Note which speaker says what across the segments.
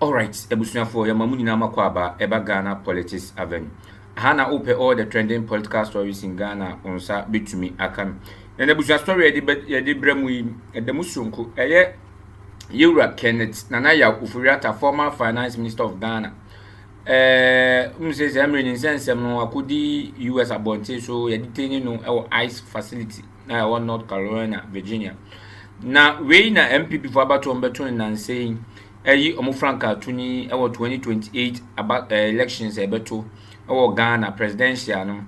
Speaker 1: Alright abusuafoɔ yɛma mo nyinaa makɔ aba ɛba Ghana politics avenue. Aha na wopɛ all the trending political stories in Ghana wo nsa bɛtumi aka no. Na n'abusua story yɛde bɛ yɛde brɛ mu yi ɛda mu soronko ɛyɛ Yewura Kenneth Nana Yaw Ofori-Atta former finance minister of Ghana. Ɛɛ mu sɛ sɛ mmerɛ ne nsɛnsɛm no akɔdi US abɔnten so yɛde tɛni no ɛwɔ ICE facility. a ɛwɔ North Carolina, Virginia. Na wei na NPP fo abatoɔ no bɛto no nansa yi ayi wɔn frankaa to ni wɔ 2028 aba eh, elections a ɛbɛto wɔ Ghana presidential no.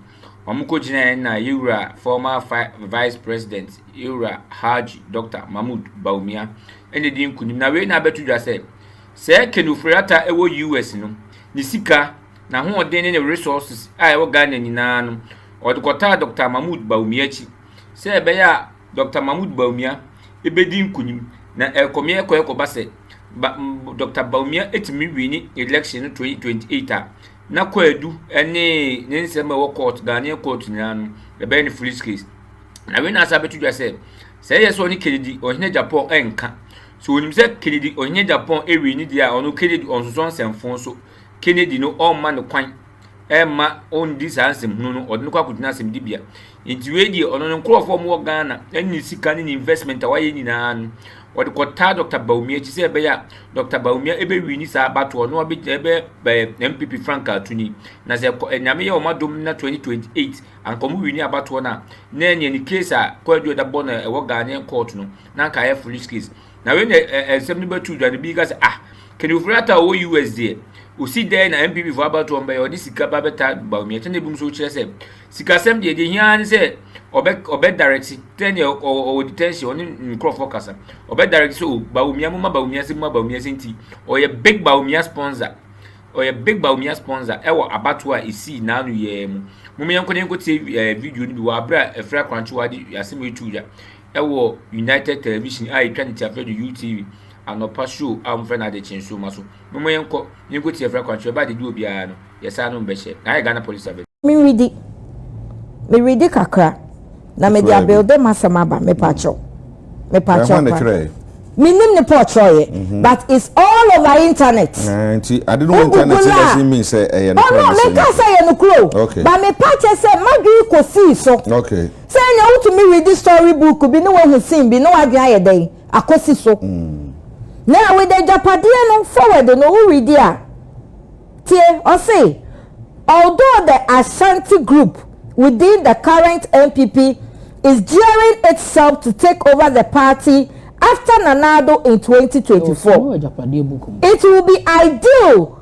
Speaker 1: Wɔn kɔ gyinaeɛ na yɛwura former vice president yɛwura Haji Dr. Mahmoud Bawumia ɛna di nkunim. Na wei na abɛto dwa sɛ sɛ Kenneth Ofori-Atta ɛwɔ US no ne sika N'ahoɔden ne ne resources a ɛwɔ Ghana nyinaa no, ɔde kɔtaa Dɔkta Mahmoud Bawumia akyi sɛ ɛbɛyɛ a Dɔkta Mahmoud Bawumia bɛdi nkunim. Na ɛrekɔme ɛrekɔ ɛrekɔba sɛ ba Dɔkta Bawumia tumi wini election no 2028 a, na Kwadu ne ne nsɛm a ɛwɔ court, Ghanaian court nyinaa no, ɛbɛyɛ no foolish case. Na wei na asa bɛto dwa sɛ, sɛ ɛyɛ sɛ ɔne Kennedy ɔhene Japan ɛnka, sɛ ɔnim sɛ Kennedy ɔhene Japan ɛwini deɛ a, ɔno Kennedy ɔnsosɔ nsɛmfo so. Kennedy no ɔmma no kwan mma ɔndi saa nsɛmhunu no, ɔde no kɔ akɔgyina asɛmdibea. Nti wei deɛ ɔno ne nkurɔfoɔ a wɔwɔ Ghana ɛne ne sika ne ne investment a wayɛ nyinaa no, ɔde kɔtaa Dr. Bawumia akyi sɛ ɛbɛyɛ a Dr. Bawumia ɛbɛwi ne saa abatoɔ na wabɛgyina ɛbɛyɛ MPP frankaa tuni. Na sɛ kɔ Nyame yɛ wɔn adom na 2028 anka wɔn wi ne abatoɔ no a, na ɛneɛ ne case a Kwaadu Ɛda bɔ no ɛwɔ Ghanaian court no, na anka ayɛ foolish case. Na wei na nsɛm no bɛtu dwa no bi ka sɛ ah Kenneth Ofori-Atta a ɔwɔ US deɛ ɔsi dɛn na MPP fo abatoɔ mbɛyɛ ɔde sika ba bɛta Bawumia kyɛ na ebinom nso kyerɛ sɛ sikasɛm deɛ deɛ hia ne sɛ ɔbɛ ɔbɛ direct tɛ ne ɔwɔ detention ɔne nkorɔfoɔ kasa ɔbɛ direct sɛ o Bawumia mo ma Bawumia sɛ mo ma Bawumia sɛ nti ɔyɛ big Bawumia sponsor ɔyɛ big Bawumia sponsor ɛwɔ abatoɔ a esii n'ano yɛɛ mu mo yɛn nkɔ ne yɛn nkɔ tie video no bi wɔ abere a Afiri Akorankye wɔ ade asɛm etu dwa wɔ United Television a etwa ne tiafrɛ do UTV anɔpa show a wɔfrɛ no Adekye Nsoromma so. Momma yɛnkɔ na yenko tiafrɛ akwankyerɛ ba a dede wɔ biara no, yɛsan no mbɛhyɛ. Na ayɛ Ghana Police abɛn. Meredi.
Speaker 2: Meredi kakra na mede Kyerɛɛ bi. abuilde m'asɛm aba. Mepakyɛw. Mepakyɛw Ɛhɔ na paa. ɛkyerɛɛ. Mennim ne Paul kyerɛwye but it's all over internet. Ɛɛ, nti ade no wɔ Wo
Speaker 3: internet Google a, doesn't mean sɛ ɛyɛ oh nokorɛ no, na ɛsɛ menkaa sɛ
Speaker 2: ɛyɛ nokorɛ o, Okay. but mepakyɛ sɛ m'adwene kɔsii so. Okay. Sɛ nea
Speaker 3: wotumi
Speaker 2: redi story book bi na wahu scene bi na w'adwene ayɛ dɛn akosi so. Na with agyapadeɛ no forward no wo redi a tie ɔse although the Ashanti group within the current NPP is gearing itself to take over the party after Nana Addo in twenty twenty four it will be ideal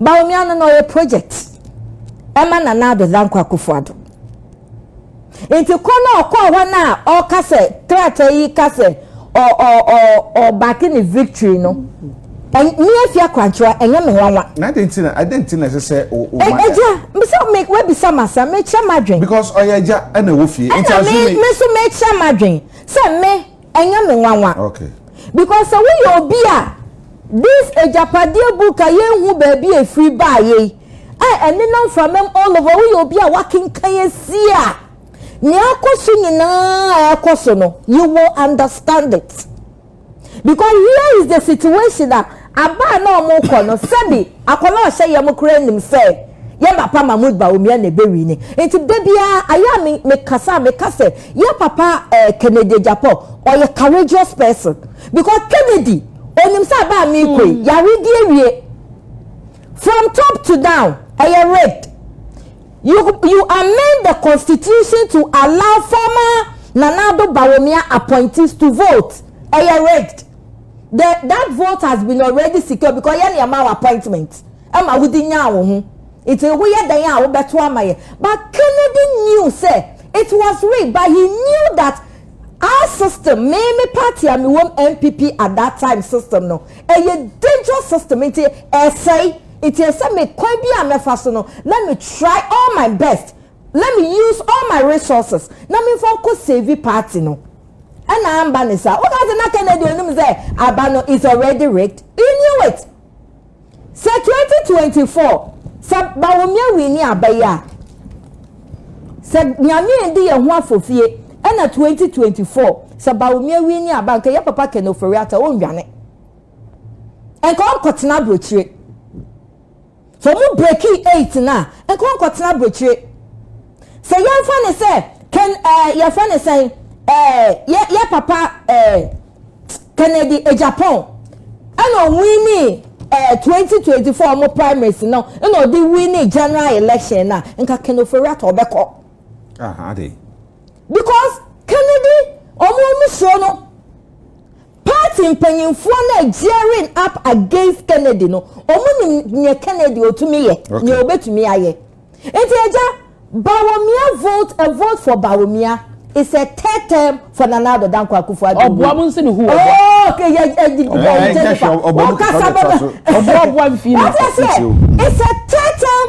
Speaker 2: Bawumia no na ɔyɛ project ɛma Nana Ado Dankwa Akufo Ado. Nti kɔ na ɔkɔ hɔ na ɔka sɛ krataa yi ka sɛ ɔbake ne victory no. Me afia kwankyewa ɛnyɛ me nwanwa. Na adi nti na adi nti
Speaker 3: na ɛsɛ sɛ o o ma. Ɛgya
Speaker 2: mbisa mi wabisa ma sa mekyerɛ ma dwen. Because ɔyɛ ɛgya
Speaker 3: ɛna ɛwɔ fie. Ɛna mi mi nso
Speaker 2: mekyerɛ ma dwen sɛ me. Ɛnyɛ me nwanwa. Okay. Because
Speaker 3: sɛ woyɛ
Speaker 2: obi a this agyapadeɛ book a yɛnhu baabi a ɛfiri baeɛ yi a ɛnenam framam all over woyɛ obi a wakenkan asi a nea akɔ so nyinaa a ɛkɔ so no you will understand it because here is the situation a Aber a nna wɔrokɔ no, sɛbi akɔla a ɔhyɛ yamu koraa nim sɛ yɛn papa Mahmoud Bawumia na ebewui no. Ntsi da biara, ayɛ a me, mekasa a, meka sɛ, Yɛn papa eh, Kennedy Agyapong, ɔyɛ courageous person. Because Kennedy, onyim sɛ aber a merokɔ yi, yaredi ewie. From top to down, ɛyɛ rigged. You, you amend the constitution to allow former Nana Addo Bawumia appointees to vote. Ɛyɛ rigged. the that vote has been already secure because yɛn na yɛma wɔ appointment ɛma wodi nyaa wɔn ho nti woyɛ dɛn a wobɛto ama yɛ but kennedy knew sɛ it was rigged but he knew that our system me me party a me wɔm npp at that time system no ɛyɛ dangerous system nti ɛsɛe nti ɛsɛ me kwan bi a mɛfa so no let me try all my best let me use all my resources na me nfa nkɔ save party no ɛna amba ne saa woka sɛ na kennedy onim sɛ aba no is already rigged he knew it sɛ 2024 sɛ bawomia wii ne aba yi a sɛ nyame ndi yɛn ho afofie ɛna 2024 sɛ bawomia wii ne aba nka yɛ papa kɛnɛ ofori ata ɔnwane nka ɔnkɔtena aburokyire Sɛ ɔmo breki eight no a, nkɔ nkɔtena abrokyire. Sɛ yɛmfa no sɛ Ken eh, yɛfrɛ no sɛn eh, yɛ yɛ papa eh, Kennedy Agyapong ɛna ɔwini eh, 2024 ɔmo primaries no ɛna ɔde wini general election no a, nka Ken Ofori-Atta ɔbɛkɔ. Ah, ade. Because Kennedy ɔmo ɔmo suro no. Party mpanyinfoɔ no a gearing up against Kennedy no, ɔmo nim neɛ Kennedy ɔtumi yɛ, neɛ ɔbɛtumi ayɛ. Nti agya, Bawomia vote, a vote for Bawomia is a third term for Nana Addo Dankwa Akufo Addo. Ɔboa mo nse ne ho ɔboa. Oh okay, yɛ yɛ Jennifer, wo kasa bɛ na. Ɔboa ɔboa nfii no. Wate aseɛ, it's a third term.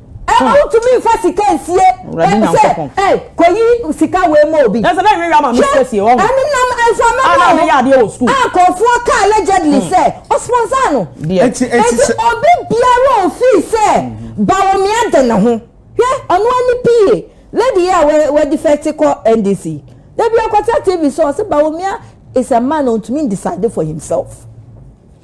Speaker 2: Ɛma wotumi nfa sika nsie. Awurade Nyankopɔn. Sɛ, ei, kɔyi sika wei ma obi. Nanso na ɛnwewea ma me sika
Speaker 4: sie, wɔahu. Hwɛ, ɛno nam mframa
Speaker 2: mu o. A na meyɛ adeɛ
Speaker 4: wɔ sukuu. A nkurɔfoɔ ka allegedly
Speaker 2: sɛ ɔsponsor no. Deɛ. Enti, enti sɛ. Enti obi biara a ofii sɛ Bawumia de ne ho. Hwɛ, ɔno ara ne PA, lady yi a wa, wadefect kɔ NDC yi. Da bi ɔkɔtra TV so, ɔse Bawumia is a man a ontumi ndecide for himself.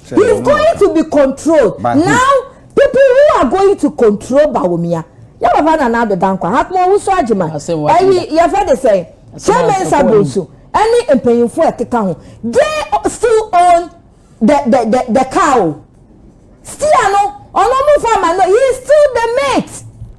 Speaker 2: He's going to be controlled. But Now, who? people who are going to control Bawumia. Yeah, Baba Nana Ado Dankwa. Hakmo Wusu Ajima. Ẹyi yẹ fẹ́ de sẹ́yìn. Chairman Sabonsu. Ẹni mpanyinfo ẹ̀keka ho. They still own the the the the cow. Still ano. Ọ̀nà ọmọ fún àmà no. He is still the mate.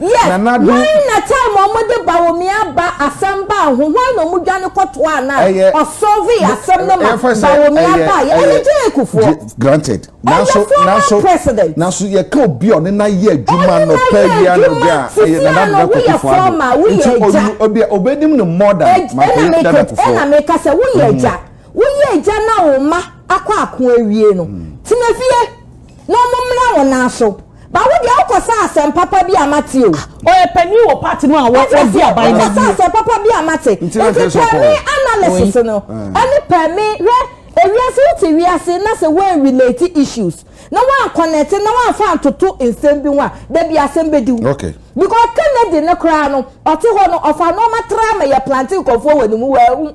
Speaker 2: Yɛ, Nanado. Hwan na time a ɔmo de Bawomia ba asɛm baa ho, hwan na ɔmo dwane kɔ toaa no a Ɛyɛ, ɔsɔlvee no, asɛm no ma yɛmfa sɛ Bawomia ɛyɛ, baeɛ? ɛyɛ, Ɛyɛ Jay Kufuor. J, granted. Ɛyɛ Nanso,
Speaker 3: former nanso, president. nanso yɛka obi a ɔne no ayɛ adwuma Ɔne no anɔpa ayɛ awia adwuma anɔdwo a, tete ɛyɛ Nana a Ado no, Dankwa woyɛ Akufo-Addo. former, woyɛ Nti agya. onim, obi a, obenim no more than Ag- Mampɛ ɛna Nana meka ɛna Kufuor. meka sɛ woyɛ
Speaker 2: agya woyɛ agya na wo mma akɔ ako awie no tena fie na ɔmo mmra wɔn nan so. Ba wo deɛ wo kɔ saa asɛm papa bi a mate o. Ah ɔyɛ panin wɔ
Speaker 4: party no a wɔ wɔ di aban no awie. Wo kɔ saa asɛm papa bi a
Speaker 2: mate. Nti pɛmi analysis no ɛne pɛmi hwɛ ewiase wo te wiase na sɛ wɔn relate issues na wɔn connect na wɔn fa ntoto nsɛm bi ho a dabi asɛm bɛ diw. Okay. Because
Speaker 3: Kennedy
Speaker 2: no koraa no ɔte hɔ no ɔfa nneɛma tra ma yɛ plante nkɔfoɔ wɔ ne mu wɔ ɛho.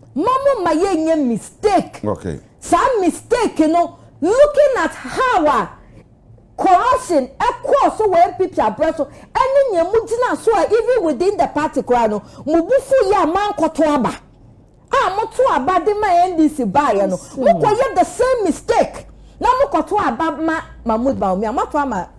Speaker 2: ma mo ma yɛ nyɛ mistake okay saa
Speaker 3: mistake
Speaker 2: no looking at how a corruption ɛkɔɔ so wɔ npp abrɛ so ɛne nea mo gyina so a even within the party koraa no mo bu fo yɛ a mankɔto aba a moto aba de ma ndc baayɛ no mokɔ yɛ the same mistake na mokɔto aba ma mahmood bawumia moato ama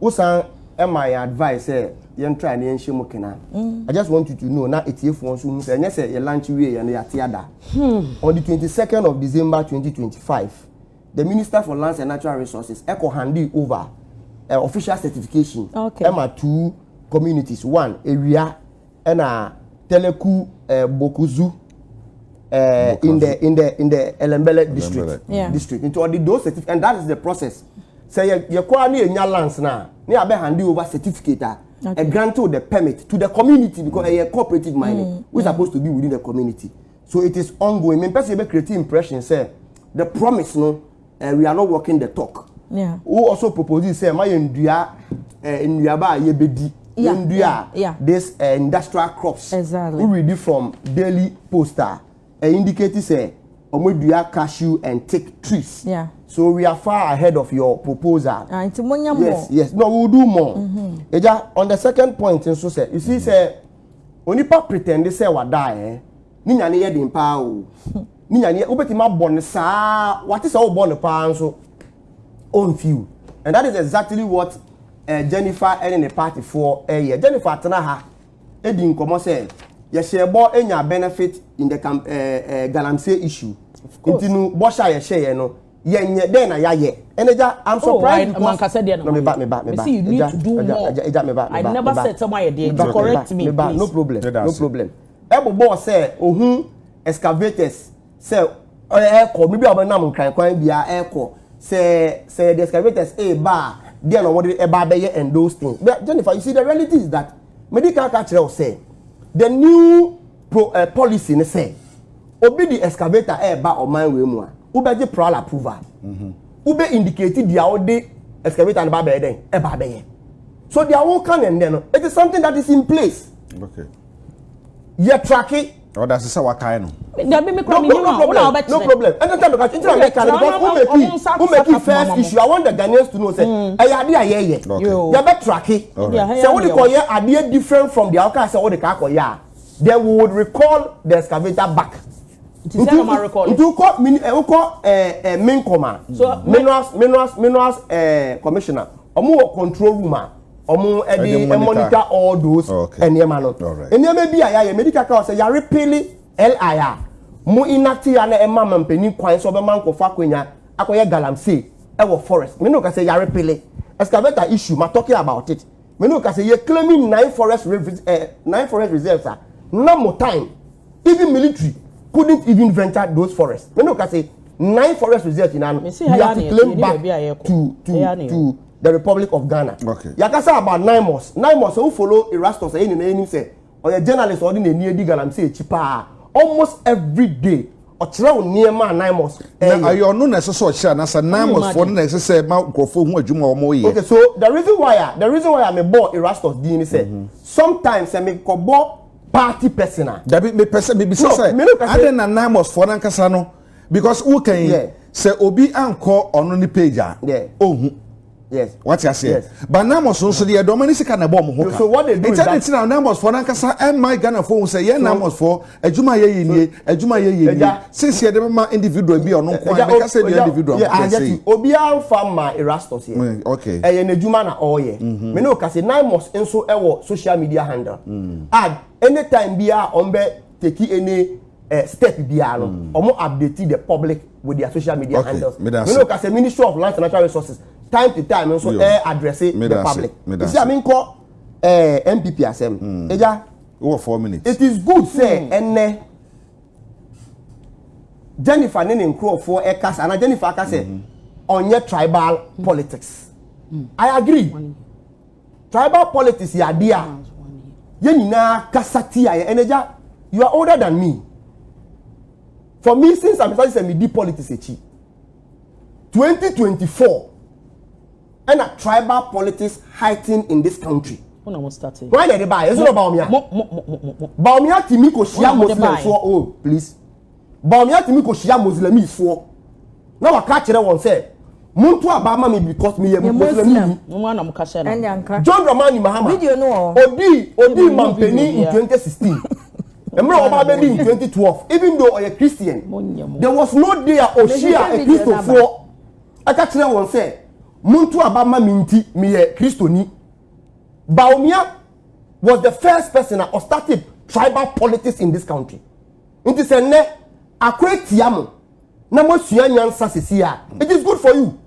Speaker 5: Wo san ma yɛn advice sɛ yɛn try na yɛn hyɛ mu kena. Mm. I just want you to know na etiefoɔ nso hu sɛ ɛnyɛ sɛ yɛ lunch wie yɛn no yɛate ada. Hmm. On the twenty second of December twenty twenty five, the Minister for Lands and Natural Resources ɛkɔ handing over uh, official certification ɛma okay. two communities one Ewia ɛna teleku ɛɛ bokuzu ɛɛ in the in the in the elembele district yeah. district nti ɔde those certificate and that is the process sɛ yɛ yɛ kɔ a ne yɛ nya lands na ne yɛ abɛ hand over certificate a. Okay. And grant the permit to the community because mm. a cooperative mining mm. which mm. supposed to be within the community. So it is ongoing. Me person be creating impression say the promise no Eh, we are not walking the talk. Yeah. Who also proposes say ma yɛn dua eh, nnuaba a yɛbɛdi. Yeah, yɛn dua yeah, yeah. this eh, industrial crops. Exactly. We read it from Daily Poster. Eh, indicate say wɔn dua cashew and take trees. Yeah. So we are far ahead of your proposal. Ah, nti mo nya more. Yes, yes. No, we will do more. Mm-hmm. Eja, on the second point nso sɛ, you see sɛ onipa pretend sɛ wada eh. ne nya no yɛ den paa o ne nya no yɛ wobɛtumi abɔ no saa wate sɛ wobɔ no paa nso ɔmfiw and that is exactly what uh, jennifer ne ne partyfoɔ ɛyɛ eh, jennifer tena ha ɛdi eh, nkɔmmɔ sɛ yɛhyɛ bɔ ɛnya eh, benefit in the camp ɛɛ ɛɛ galamsey issue nti no bɔhyɛ a yɛhyɛ yɛ no yɛnyɛ dɛn na yɛayɛ ɛnɛ gya i'm oh, surprised oh, because mankasa deɛ na meba
Speaker 4: meba meba see you need to do more ɛgya meba meba i never said sɛ mo ayɛ deɛ to correct me please no problem no
Speaker 5: problem. ɛbobɔɔ sɛ ohun excavators sɛ ɛrekɔ baabi a wɔbɛnam nkran kwan biara ɛrekɔ sɛ sɛ yɛde excavators ɛreba a deɛ na wɔde ɛba abɛyɛ and those things but Jennifer you see the reality is that mede kan ka kyerɛ wo sɛ the new pro, uh, policy ne sɛ obi de excavator ɛreba ɔman wei mu a wobɛgye prowl approval mhm. wobɛ indicate deɛ wode excavator no ba bɛyɛ dɛn ɛba bɛyɛ so deɛ woka ne nnɛ no it is something that is in place okay.
Speaker 3: yɛ
Speaker 5: traki. ɔda ase sɛ watae
Speaker 3: no. dabi mi kura mi yi wa wona
Speaker 5: ɔbɛ kyerɛ. no problem ɛnna tẹ mẹka ntina mẹka ni because o mẹki o mẹki first issue i want the ghanaians to know sẹ ẹyẹ adi a yẹ yẹ yẹ bẹ traki sẹ o de kọ yẹ adiẹ different from the ọkà sẹ o de kọ yẹ a then we would recall the excavator back nti sɛ ɔma recall nti wokɔ min ɛ wokɔ ɛɛ ɛ minkɔma minerals minerals minerals ɛɛ commissioner ɔmo wɔ control room a. wɔn de monitor all those nneɛma no nneɛma bi a yɛayɛ medi kaka wɔ sɛ yare pili li a mo inacti a na ɛma ma mpanyin kwan sɛ ɔbɛma nkɔfo akonya akɔyɛ galamsey ɛwɔ forest mene ka sɛ yare pili excavator issue ma talking about it mene ka sɛ yɛ claiming nine forest revis eh, nine forest reserves a na mo time even military couldn't even venture those forests mene ka sɛ nine forest reserves nyinaa no we have to claim back to to to the republic of ghana okay. yɛakasa about
Speaker 3: nimos
Speaker 5: nimos sɛ wo follow erastus ɛyɛ nyinaa anim sɛ ɔyɛ journalist ɔde n'ani adi galamsey akyi paa almost every day ɔkyerɛ wo nneɛma a nimos ɛyɛ na ayɛ ɔno na ɛsɛ
Speaker 3: sɛ ɔkyerɛ na sɛ nimos foɔ no na ɛsɛ sɛ ɛma nkurɔfoɔ ho adwuma a wɔyɛ okay so the reason
Speaker 5: why a the reason why a mebɔ erastus din ne sɛ mhm. sometimes sɛ mekɔbɔ party person a dabi mepɛ sɛ mebisa
Speaker 3: sɛ adɛn na nimos foɔ no ankasa no because wo kan yeah. sɛ obi ankɔ ɔno ne page a yeah. ohu yes
Speaker 5: wate aseɛ yes.
Speaker 3: but namos no nso deɛ dɔm ne sika na ɛbɔ ɔmo ho ka so what they do is that ɛkyɛ ne tena
Speaker 5: namos fo nankasa
Speaker 3: ɛmma ghana fo ho sɛ yɛn namos fo adwuma yɛ yɛ nie adwuma yɛ yɛ nie sisi ɛde ma individual bi ɔno nko ara mɛka sɛ deɛ individual nko ara sɛ obiara
Speaker 5: nfa ma erastus yɛ mm, okay ɛyɛ n'adwuma
Speaker 3: na ɔɔyɛ
Speaker 5: mm-hmm. mene o ka sɛ namos nso ɛwɔ social media handle mm. a anytime bi a ɔn bɛ take any eh, step biara no mm. ɔmo update the public with their social media okay. handles mi no ka sɛ ministry of lands and natural resources time to time nso ɛ address the public esi ami nkɔ ɛɛ eh, npp asɛm ɛgya mm. wɔ four minutes
Speaker 3: it is good sɛ
Speaker 5: ɛnɛ mm. jennifer ne ne nkurɔfoɔ ɛka sɛ ana jennifer aka sɛ mm-hmm. ɔnyɛ tribal politics i agree. Mm -hmm. tribal politics yɛ adeɛ a yɛn nyinaa kasa tia yɛ ɛnna gya you are older than me for me since i'm starting sɛ me di politics akyi twenty twenty four ɛna tribal politics heighten in this country wọn na mo start it. wọn
Speaker 4: na ɛde baa yɛ ɛsɛ na ɔba
Speaker 5: ɔmia baomia ti mi ko hyia muslims wɔ oh please Bawumia tumi kɔhyia Muslimifoɔ na waka kyerɛ wɔn sɛ monto aba ama me because meyɛ Muslimini. John Dramani Mahama odii
Speaker 2: odii
Speaker 5: mampanin in 2016 mmerɛ ɔba abɛdi in 2012 even though ɔyɛ Christian there was no day a ɔhyia Kristofoɔ ɛka kyerɛ wɔn sɛ monto aba ma me nti meyɛ Kristoni. Bawumia was the first person a ɔstarted tribal politics in this country. Nti sɛ nnɛ ako atia mo na moasua nyansa sisi a, it is good for you.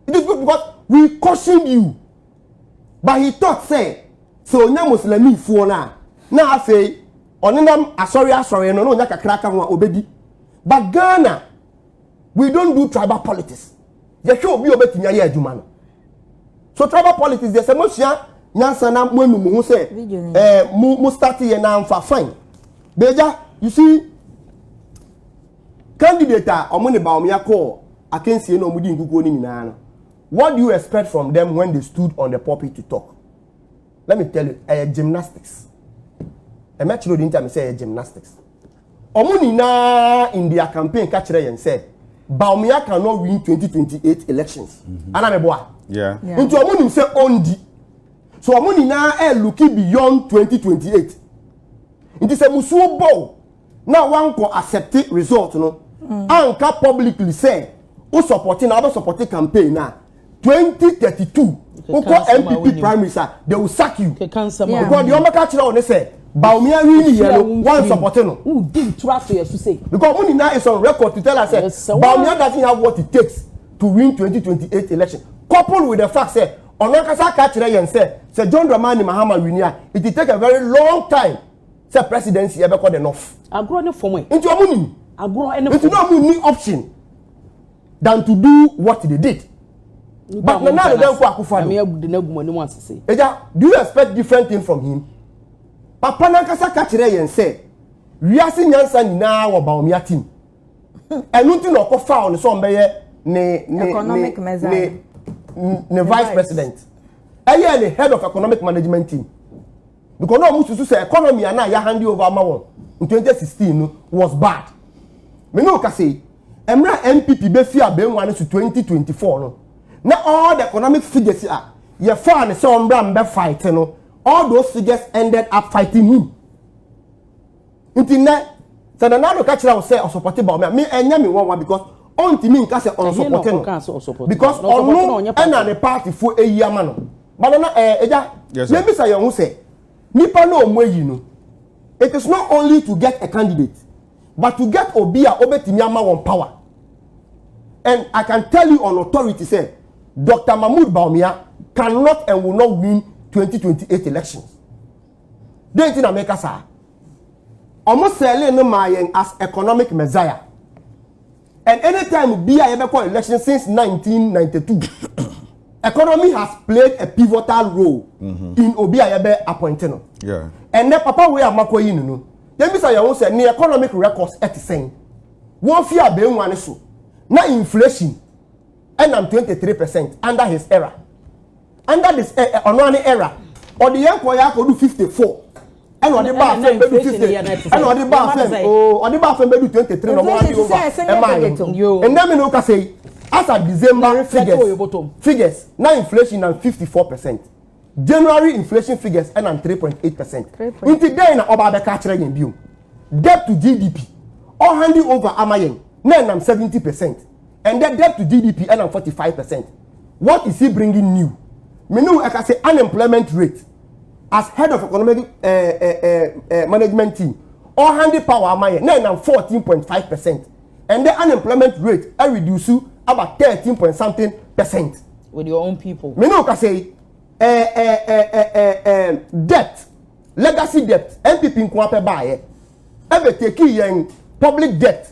Speaker 5: It is good because we cautioned you. But he thought sɛ sɛ onya Muslimifoɔ no a na afei ɔnenam asɔre asɔre no na onya kakra ka ho a obedi. But Ghana we don't do tribal politics yɛhwɛ obi a obetumi ayɛ adwuma no so tribal politics deɛ sɛ mo sua nyansa na mo enu mo ho sɛ ɛɛ eh, mo mo start yɛ na nfa fine beja you see candidate a wɔn ne ba wɔn akɔ akansie na wɔn di nkukuo no nyinaa no what do you expect from them when they stood on the pulpit to talk let me tell you ɛyɛ gymnastics ɛmɛkyerɛ odi nkyɛn mi sɛ ɛyɛ gymnastics. Wɔn nyinaa in their campaign ka kyerɛ yɛn sɛ Bawumia can not win 2028 elections. Mm-hmm. Ana meboa? Yeah. Nti
Speaker 3: wɔn nim sɛ
Speaker 5: ɔndi. So wɔn nyinaa ɛ looki beyond 2028. Nti sɛ musuo bɔw na wankɔ accept result no. Mm. Anka publicly sɛ o supporting na ɔbɛ supporting campaign na. twenty thirty two wokɔ npp primaries a they will sack you because the ɔmo ka kyerɛ ɔne sɛ baomi awi ni yɛ no wɔn sɔpɔte no
Speaker 4: because mo nyinaa is on
Speaker 5: record to tell us sɛ baomi doesn't have what it takes to win twenty twenty eight election coupled with the fact sɛ ɔno ankasa ka kyerɛ yɛn sɛ sɛ john dramani mahama wini a it will take a very long time sɛ presidency ɛbɛkɔ the north. agorɔ ne fɔm
Speaker 4: ɛ. nti ɔmo nim. agorɔ
Speaker 5: ne fɔm. nti
Speaker 4: na ɔmo ni option.
Speaker 5: than to do what they did but nana ado danko akufo ado ɛgya do you expect different thing from him papa nankasa ka kyerɛ yɛn sɛ wiase nyansa nyinaa wɔ baomia team ɛno nti na ɔkɔ fa ɔno sɛ ɔmbɛyɛ ne ne economic
Speaker 2: measure ne
Speaker 5: vice president ɛyɛ ne head of economic management team. because na wɔn susu sɛ economy a na yɛ hand over ama wɔn in twenty sixteen no was bad me no kasa yi mmerɛ a npp bɛfi abɛnwa no so twenty twenty four no na all the economic figures a yɛfaa ne sɛ ɔmbra mbɛ fight no all those figures ended up fighting him. nti nnɛ sɛ nana ado ka kyerɛ wo sɛ ɔsɔpɔte ba ɔmɛ me ɛnyɛ me wɔnwa because ɔntumi nka sɛ ɔnsɔpɔte no because ɔno ɛna ne paatifoɔ ɛyi ama no ba nana ɛɛ ɛgya yɛn bisa yɛn ho sɛ nipa na ɔmo ayi no it is not only to get a candidate but to get obi a ɔbɛtumi ama wɔn power and i can tell you on authority sɛ dr mahmood baumia cannot and will not win 2028 elections. Dɛn nti na meka saa? Ɔmo sɛɛlee no maa yɛn as economic messiah. And anytime bi a yɛbɛkɔ election since 1992, economy has played a pivotal role mm-hmm. in obi a yɛbɛ appoint no. Yeah. And then
Speaker 3: papa wei a
Speaker 5: makɔ yi no no, yɛbisa yɛn ho sɛ ne economic records ɛte sɛn? Wɔn fi abɛnwa ne so na inflation ɛnam 23 percent under his era. And that is ɛ ɛ ɔno ara ne era. Ɔde yɛn kɔɔ yɛ akɔdu fifty four. Ɛna ɔde baa fɛn bɛdu fifty. Ɛna ɔde baa fɛn oo ɔde baa fɛn bɛdu twenty three na ɔmo adi over ɛmaa yɛn. Ɛnna mi na o kasa yi as at December figures figures na inflation na fifty four percent. January inflation figures ɛna three point eight percent. Nti dɛn na ɔba abɛka akyerɛ yɛn bio? Debt to GDP ɔhandi over ama yɛn na ɛnam seventy percent. and the debt to gdp ɛnam forty five percent what is he bringing new mene wo ɛka sɛ unemployment rate as head of economic uh, uh, uh, management team ɔhande power ama yɛ na ɛnam fourteen point five percent and the unemployment rate I reduce to about thirteen point something percent. with your own
Speaker 2: people. mene wo ka sɛ
Speaker 5: debt legacy debt npp nko apɛ baayɛ ɛbɛ teki yɛn public debt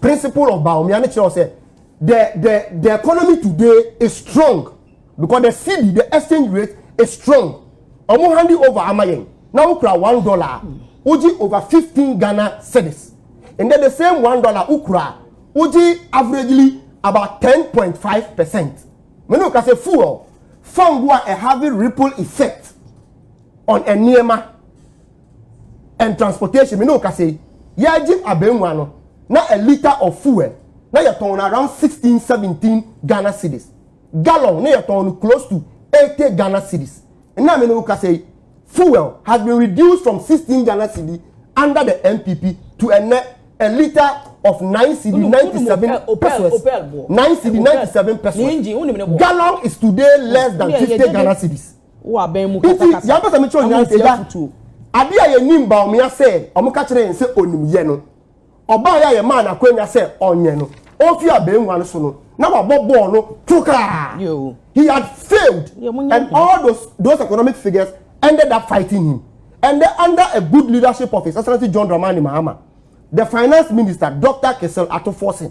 Speaker 5: Principle of Bawumia ne kyerɛw sɛ the the the economy today is strong because the cedi the exchange rate is strong ɔmo hand over ama yɛn na wokura one dollar wogye over fifteen ghana cedis and then the same one dollar wokura wogye averagely about ten point five percent mene oka sɛ fuel fango a ɛhave ripple effect on nneɛma. and transportation me ne okasa yi yɛgye abɛnwa no na a liter of fuel na yɛtɔn no around sixteen seventeen ghana cedis gallon na yɛtɔn no close to eighty ghana cedis na me ne okasa yi fuel has been reduced from sixteen ghana cedi under the npp to ɛnɛ a liter of nine cedi ninety seven pesos nine cedi ninety seven pesos gallon is today less than fifty ghana cedis. Wo aban mu Nti kasakasa deɛ mpɛ sɛ mekyerɛ nyinaa sɛ amantia agya futuo. adeɛ a yɛnim Bawumia sɛ wɔka kyerɛɛ yɛn sɛ ɔnim yɛ no ɔbaeɛ a yɛmaa no akwanya sɛ ɔnyɛ no ɔmfiri abangua no so no na wabɔ bɔɔl no tokaa Yoo. he had failed Deɛ mo nyɛ and nhwɛ. all those those economic figures ended up fighting him and then under a good leadership of his excellency John Dramani Mahama the finance minister Doctor Kessel Ato Forson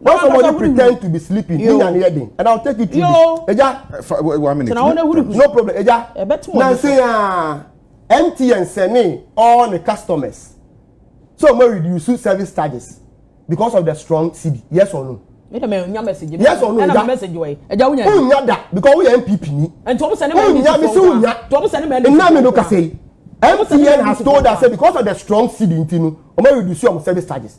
Speaker 5: When somebody pretend to be sleeping, ni yan yɛ den, and I will take you to this. Ɛja. One minute. Tena wɔn ehuri
Speaker 3: kusu. No problem. Ɛja.
Speaker 5: Ɛbɛtum wɔn. Nansi yaa MTN sɛni all the customers so mo reduce service charges because of the strong cd yes or no mi dɛ mɛ n nya message. yes or no ɛna message wɔ ye ɛja wunya. n nya da because wuya npp ni. ɛnti ɔmu sɛni mɛ ɛdi ti fɔw kan to ɔmu sɛni mɛ ɛdi ti fɔw kan. nna mi do kase yi mtn has told us say because of the strong seed nti no ɔmu reduce ɔmu service charges.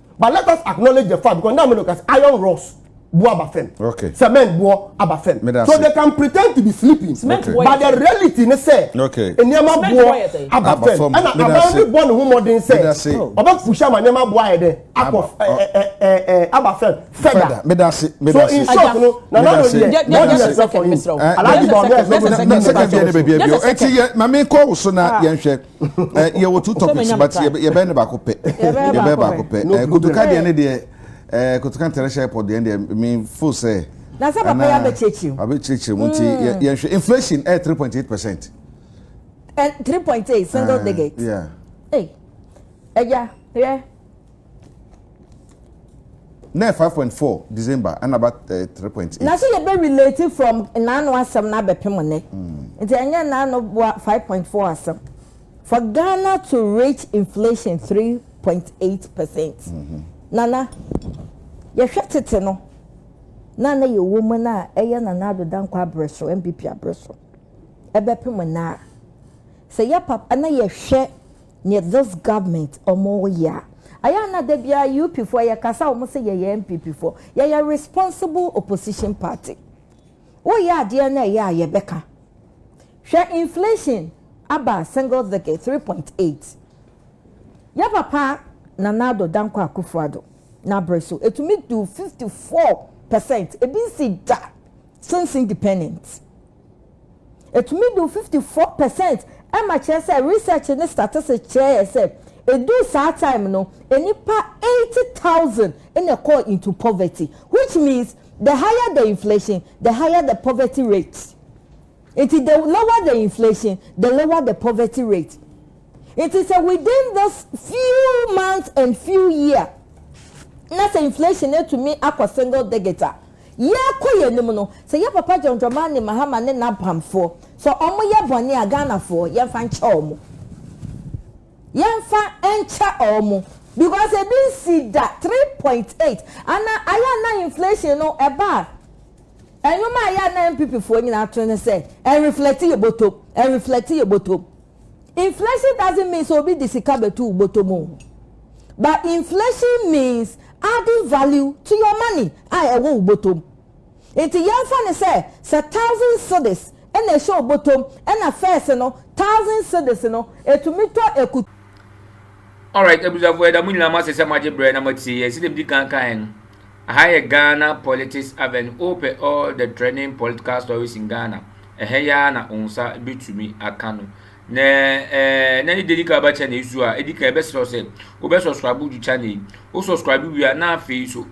Speaker 5: but let us acknowledge the fact because now me no case iron rods bu aba fam okay. cement bu
Speaker 3: aba
Speaker 5: fam so they can pretend to be sleeping cement okay. but the
Speaker 3: reality ne
Speaker 5: sɛ nneɛma bu aba fam ɛna aban bi bɔ ne ho mɔden sɛ ɔbɛ push ama nneɛma bu ayɛ dɛ akɔ ɛɛ aba fam fɛda so in short no na na no deɛ wɔn yɛ sɛ fɔ yi alaji bɔ ɔmɛ ɛsɛ fɔ yi. na sɛkɛndiɛ ne bɛ bi ɛbi o eti yɛ maame
Speaker 3: kɔ woso na yɛn hwɛ. Eh, yɛ wɔ two topics but yɛ bɛ yɛ bɛ ne baako pɛ. Yɛ bɛ baako pɛ. Eh, kotoka deɛ ne deɛ, eh, kotoka ntɛrɛhyɛ airport deɛ ne deɛ, me fo sɛ. Na sɛ papa yɛ abɛ
Speaker 2: kyerɛkyerɛ mu. Abɛ kyerɛkyerɛ mu nti yɛ
Speaker 3: yɛn hwɛ inflation ɛyɛ three point eight percent. Eh, three
Speaker 2: point eight single eh, digit. Yeah. Hey, ɛya, yɛ.
Speaker 3: Nɛ five point four December ɛna ba eh, three point eight. Na so yɛ bɛ relate
Speaker 2: from naano asɛm na abɛpem nɛ. Mm. Nti ɛnyɛ naano boa five point four asɛm. For Ghana to reach inflation three point eight percent. Mm -hmm. Nana yɛhwɛ tete no na na yɛ wɔ mu na ɛyɛ nana ado dankɔ abrɛ so MPP abrɛ so ɛbɛpem nɛ a sɛ yɛ papa na yɛhwɛ Neɛ this government ɔmo yɛ a. Ayɛ a na dabiaa UP foɔ yɛ kasa ɔmo se yɛyɛ NPP foɔ. Yɛyɛ responsible opposition party. Wo yɛ adeɛ na ɛyɛ a yɛ bɛka. Hwɛ inflation aba single digit three point eight. Yɛ papa Nana Addo Dankwa Akufo Addo n'abere so ɛtumi duu fifty four percent. Ebi nsi da since independent. Ɛtumi du 54 percent ɛma kyerɛ sɛ research ne statistics kyerɛ yɛ sɛ ɛduu saa time no nnipa 80,000 na ɛkɔɔ into poverty which means the higher the inflation the higher the poverty rate nti the lower the inflation the lower the poverty rate. Nti sɛ within this few months and few year na sɛ inflation atumi akɔ single digit a, yɛrekɔ yɛn anim no, sɛ yɛ Papa John Dramani Mahama ne n'abamfoɔ, sɛ wɔyɛ bɔne a, Ghanafoɔ, yɛmfa nkyɛ wɔn. Yɛmfa nkyɛ wɔn. Because ebi nsii da three point eight. Ana ayɛ a na inflation no ɛba a, ɛnwom a ɛyɛ a na NPPfoɔ nyinaa to ne sɛ, ɛnreflɛte yɛn bɔtɔ mu, ɛnreflɛte yɛn bɔtɔ mu. Inflation doesn't mean sɛ obi de sika bɛto wo bɔtɔm o. But inflation means adding value to your money a ɛwɔ wo bɔtɔm. Nti yɛmfa no sɛ sɛ thousand cedis ɛna ɛhyɛ wo bɔtɔm ɛna first no thousand cedis no ɛtumi tɔ akutu.
Speaker 1: Alright abusuafoɔ yɛda mo nyinaa mo ase sɛ mo agye berɛ na mo atie yɛn. Sɛdeɛ medi kan kaeɛ no, aha yɛ Ghana Politics Avenue, wopɛ all the trending political stories in Ghana. Ɛhɛ yi ara na wo nsa betumi aka no. Na ɛɛ, na ne deɛ edi kan ɔbɛkyɛ na esu a, edi kan ɛbɛsrɛ wo sɛ wobɛ subscribe to channel yi. Wo subscribe wie a, na afei nso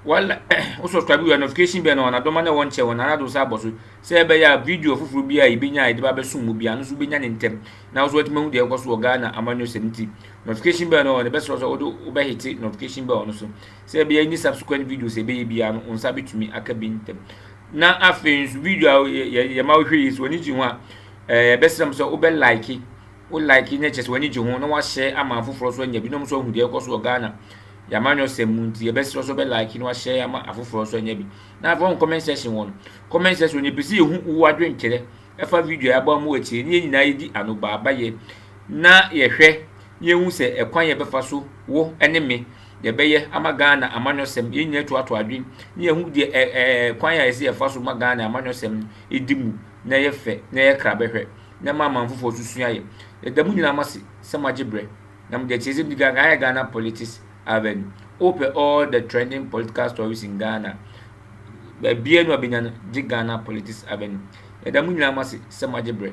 Speaker 1: wala wo subscribe wie a, notification bell no wɔn adoma na ɛwɔ nkyɛn wɔn nana do nsa abɔ so sɛ ɛbɛyɛ a video foforɔ bi a yɛbɛnya a yɛde ba bɛsom mu bi a, no nso wobɛnya ne ntɛm na wo nso watumi ahu deɛ ɛkɔ so wɔ Ghana amanyɔsɛm nti. Notification bell no wɔn ɛbɛsrɛ wo sɛ wode wobɛhete notification bell no so. Sɛ ɛbɛyɛ any subsequent videos a yɛbɛyɛ biara no, wo nsa bɛtumi aka bi ntɛm. Na afei nso video a yɛma wohwɛ yi, sɛ w'ani gye ho a, yɛbɛsrɛ mo sɛ wobɛ like, wo like na kyerɛ sɛ w'ani gye ho na wahyɛ ama afoforɔ nso anya bi na wɔn nso ahu deɛ ɛkɔ so wɔ Ghana yɛamanyɔsɛm mu nti yɛbɛsrɛ sɛ wobɛ like na wahyɛ ama afoforɔ nso anya bi. Na afei wɔn comment section wɔ no, comment section no yɛpɛ sɛ yɛhu wo adwenkyerɛ ɛfa video a yɛabɔ ama wo akyire ne yɛn nyinaa yɛdi anobaabayɛ na yɛhwɛ Yɛnhu sɛ ɛkwan yɛbɛfa so, wo ne me, yɛbɛyɛ ama Ghana amanyɔsɛm, yɛn nyinaa toatoa adwen na yɛahu deɛ ɛ ɛ ɛ kwan a ɛsɛ yɛfa so ma Ghana amanyɔsɛm no ɛdi mu na ɛyɛ fɛ na ɛyɛ kra bɛhwɛ na ɛma aman foforɔ nso sua yɛ. Yɛda mo nyinaa mase sɛ moagye berɛ na mode akyirɛsɛm di Ghana ayɛ Ghana Politics Avenue. Wopɛ all the trending political stories in Ghana a, baabiara ni wabɛnya no gye Ghana Politics Avenue. Yɛda mo nyinaa mase sɛ moagye berɛ.